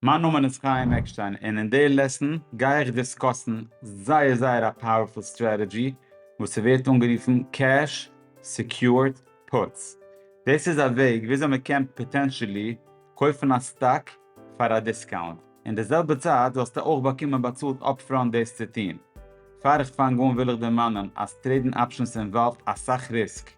מיין נאמען איז חיים עקשטיין און אין די לעסן גיי איך דיסקאסן זייער זייער א פאוערפול סטרעטעדזשי וואס ס'ווערט אנגערופן קעש סעקיורד פוטס. דאס איז א וועג וויאזוי מ'קען פאטענטשעלי קויפן א סטאק פאר א דיסקאונט אין די זעלבע צייט זאלסטו אויך באקומען באצאלט אפפראנט דאס צו טון. פאר איך פאנג אן וויל איך דערמאנען אז טרעידן אפשענס אינוואלווד אסאך ריסק.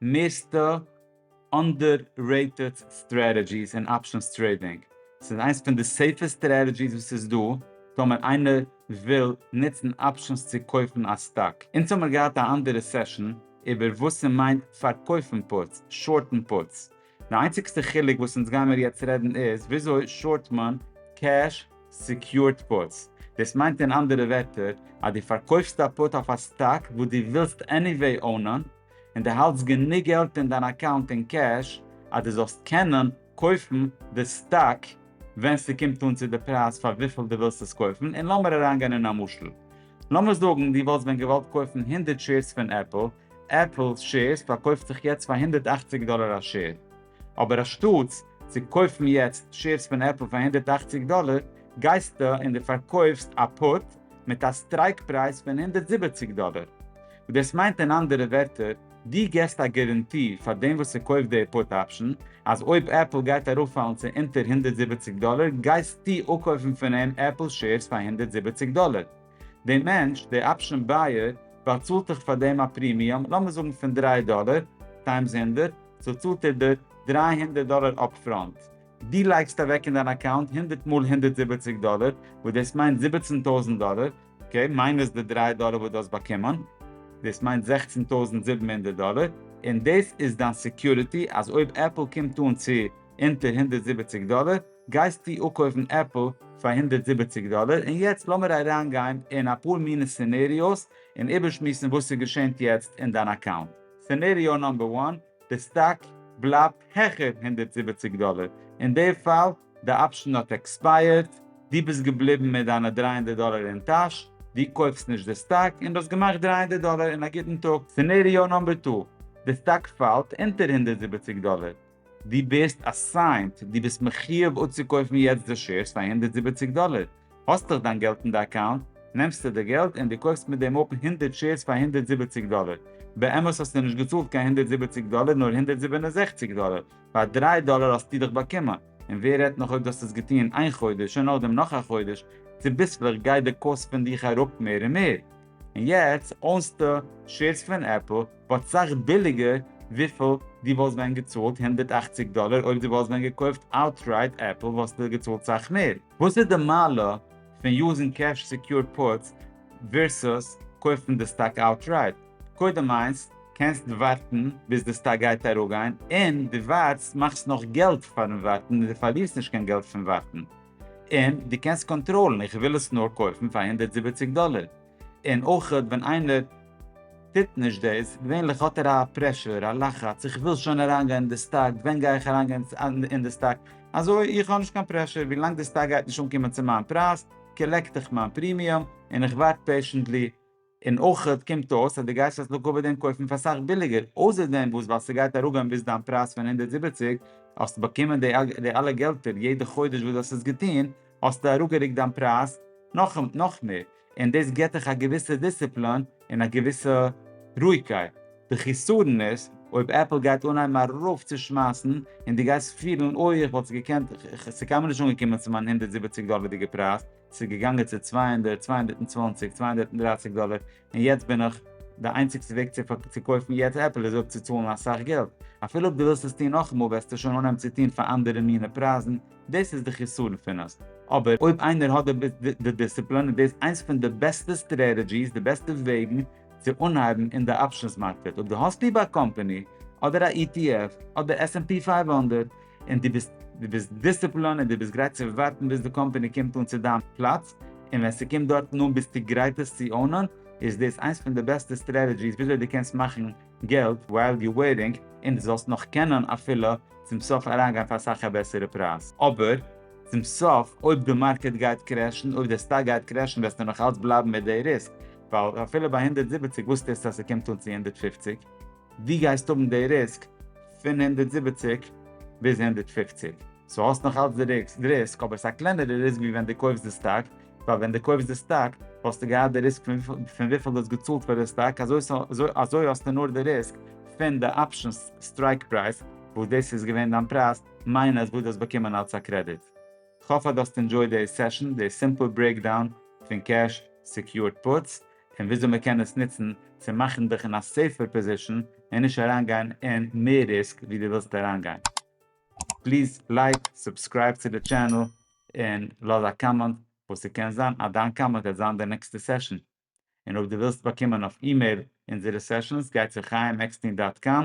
מערסטע אנדעררעיטעד סטרעטעגיס אין אפשענס טרעידינג. ס'איז איינס פון די סעיפעסט סטרעטעגיס וואס ס'איז דא טאמער איינער וויל נוצן אפשענס צו קויפן א סטאק. אונז האמיר געהאט א אנדערע סעשאן איבער וואס ס'מיינט פארקויפן פוטס, שארטן פוטס, די איינציגסטע חילוק וואס אונז גיימער יעצט רעדן איז וויאזוי שארט מען קעש סעקיורד פוטס. דאס מיינט אין אנדערע ווערטער אז דו פארקויפסט א פוט אויף א סטאק וואס דו ווילסט עניוועי אונען, און דו האלטסט גענוג געלט אין דיין אקאונט אין קעש אז דו זאלסט קענען קויפן די סטאק ווען ס'קומט אן צו די פרייז פאר וויפיל דו ווילסט עס קויפן, און לאמיר אריינגיין אין א משל. לאמיר זאגן דו וואלסט ווען געוואלט קויפן הונדערט שעירס פון עפל, עפל'ס שעירס פארקויפט זיך יעצט פאר הונדערט אַכציק דאלער א שעיר, אבער אנשטאטס צו קויפן יעצט שעירס פון עפל פאר הונדערט אַכציק דאלער, גייסטו און דו פארקויפסט א פוט מיט א סטרייק פרייז פון הונדערט זיבעציק דאלער. דאס מיינט אין אנדערע ווערטער, די געסט א גערענטי פאר דעם וואס ס'קויפט די פוט אפשען אז אויב עפל גייט אראפפאלן צו אונטער הונדערט זיבעציק דאלער גייסטו אפקויפן פון אים עפל שעירס פאר הונדערט זיבעציק דאלער. די מענטש, די אפשען בייער, באצאלט דיך פאר דעם א פרימיום, לאמיר זאגן פון דרײַ דאלער, טיימס הונדערט, סאו צאלט ער דיר דרײַ הונדערט דאלער אפפראנט. דו לייגסט אוועק אין דיין אקאונט הונדערט מאל הונדערט זיבעציק דאלער, וואס דאס מיינט זיבעצן טויזנט דאלער, אקעי, מיינוס די דריי דאלער וואס דו האסט באקומען, דאס מיינט זעכצן טויזנט זיבן הונדערט דאלער, און דאס איז דיין סעקיוריטי אז אויב עפל קומט אן צו אונטער הונדערט זיבעציק דאלער, גייסטו אפקויפן עפל פאר הונדערט זיבעציק דאלער, און יעצט לאמיר אריינגיין אין אפאר מינע סינעריאוס און איבערשמועסן וואס ס'געשענט יעצט אין דיין אקאונט. סינעריאו נאמבער וואן. די סטאק בלייבט העכער הונדערט זיבעציק דאלער, אין די פאל די אפשען האט עקספייערט, דו ביסט געבליבן מיט דיינע דרײַ הונדערט דאלער אין טאש, דו קויפסט נישט די סטאק, און דו האסט געמאכט דרײַ הונדערט דאלער אין א גוטן טאג. סינעריאו נאמבער טו, די סטאק פאלט אונטער הונדערט זיבעציק דאלער, דו ביסט אסיינט, דו ביסט מחיוב אצוקויפן יעצט די שעירס פאר הונדערט זיבעציק דאלער, האסט דאך דיין געלט אין די אקאונט, נעמסטו די געלט און די קויפסט מיט דעם אפן הונדערט שעירס פאר הונדערט זיבעציק דאלער, באמת האסטו נישט געצאלט קיין הונדערט זיבעציק דאלער נאר הונדערט זיבן און זעכציק דאלער, פאר דריי דאלער האסטו דאך באקומען, און ווער רעדט נאך אויב דו האסט עס געטון איין חודש און נאכדעם נאך א חודש, צוביסלעך גייט די קאסט פון דיך אראפ מער און מער, און יעצט אונסטו שעירס פון עפל באט סאך ביליגער וויפיל דו וואלסט ווען געצאלט הונדערט אַכציק דאלער אויב דו וואלסט ווען געקויפט אוטרייט עפל וואלסטו געצאלט סאך מער. וואס איז די מעלה פון יוזן קעש סעקיורד פוטס ווערסוס קויפן די סטאק אוטרייט? קודם איינס, קענסט ווארטן ביז די סטאק גייט אראפגיין, און דו ווארטסט מאכסט נאך געלט פארן ווארטן און דו פארלירסט נישט קיין געלט פון ווארטן, און דו קענסט קאנטראלן, איך וויל עס נאר קויפן פאר הונדערט זיבעציק דאלער. און אויך ווען איינער טוט נישט דאס, געווענליך האט ער א פרעשור, א לחץ, איך וויל שוין אריינגיין אין די סטאק, ווען גיי איך אריינגיין אין די סטאק, אזוי איך האב נישט קיין פרעשור, ווי לאנג די סטאק גייט נישט אנקומען צו מיין פרייז, קאלעקט איך מיין פרימיום, און איך ווארט פעישענטלי, און אויך קומט אויס אז דו גייסט אז לכה פ דעם קויפן פאר סאך ביליגער, אויסער דעם וואס ווייל ס'גייט אראפגיין ביז דיין פרייז פון הונדערט זיבעציק, האסט באקומען די אלע געלטער יעדע חודש וואס דו האסט עס געטון, האסטו אראפגערוקט דיין פרייז נאך נאך מער, און דאס גיבט דיך א געוויסע דיסציפלין און א געוויסע רואיגקייט. די חיסרון איז אויב עפל גייט אנהייבן ארויפצושמייסן און דו גייסט פילן אוי איך וואלט עס געקענט, ס'איז קיינמאל נישט אנגעקומען צו מיין הונדערט זיבעציק דאלערדיגע פרייז, ס'איז געגאנגען צו צוויי הונדערט, צוויי הונדערט און צוואַנציק, צוויי הונדערט און דרײַסיק דאלער, און יעצט בין איך, די איינציגסטע וועג צו קויפן יעצט עפל איז אפצוצאלן אסאך געלט, אפילו אויב דו ווילסט עס טון נאכאמאל וועסטו שוין אנהייבן צו טון פאר אנדערע מינע פרייזן, דאס איז די חיסרון פון עס, אבער אויב איינער האט די דיסציפלין איז דאס איינס פון די בעסטע סטרעטעדזשיס, די בעסטע וועגן צו אנהייבן אין די אפשענס מארקעט, אויב דו האסט ליב א קאמפאני, אדער א ETF, אדער עס ענד פי פֿינף הונדערט, און דו ביסט דו ביסט דיסציפלאן און דו ביסט גרייט צו ווארטן ביז די קאמפעני קומט אן צו דיין פלאץ און ווען ס'קומט דארטן אן ביסטו גרייט עס צו אנען איז דאס איינס פון די בעסטע סטרעטעדזשיס וויאזוי דו קענסט מאכן געלט ווייל יו וועיטינג און דו זאלסט נאך קענען אפילו צום סוף אריינגיין פאר אסאך א בעסערע פרייז. אבער צום סוף אויב די מארקעט גייט קרעשן אויב די סטאק גייט קרעשן וועסטו נאך אלץ בלייבן מיט די ריסק ווייל אפילו ביי הונדערט זיבעציק וואוסטו עס אז ס'קומט אן צו הונדערט פופציג די גייסט האבן די ריסק פון הונדערט זיבעציק ביז הונדערט פֿופֿציק, סאו האסט נאך אלץ די ריסק אבער ס'איז א קלענערע ריסק ווי ווען די קויפסט די סטאק, ווייל ווען די קויפסט די סטאק וואלסטו געהאט די ריסק פון וויפיל די האסט געצאלט פאר די סטאק אזוי האסטו נאר די ריסק פון די אפשענס סטרייק פרייז וואס דאס איז געווען דיין פרייז מיינוס וואס די האסט באקומען אלץ א קרעדיט. כ'האף אז די האסט ענדזשויד די סעשאן, די סימפל ברעיקדאון פון קעש סעקיורד פוטס, און וויאזוי מען קען עס נוצן צו מאכן דיך אין א סעיפער פאזישן און נישט אריינגיין אין מער ריסק ווי דו ווילסט אריינגיין. פליז לייק, סובסקרייב צו די טשענעל, און לאז א קאמענט וואס ס'קען זיין אז דיין קאמענט וועט זיין די נעקסטע סעשאן. און אויב דו ווילסט באקומען אויף אימעיל אונזערע סעשאנס גיי צו חייםעקסטין דאט קאם.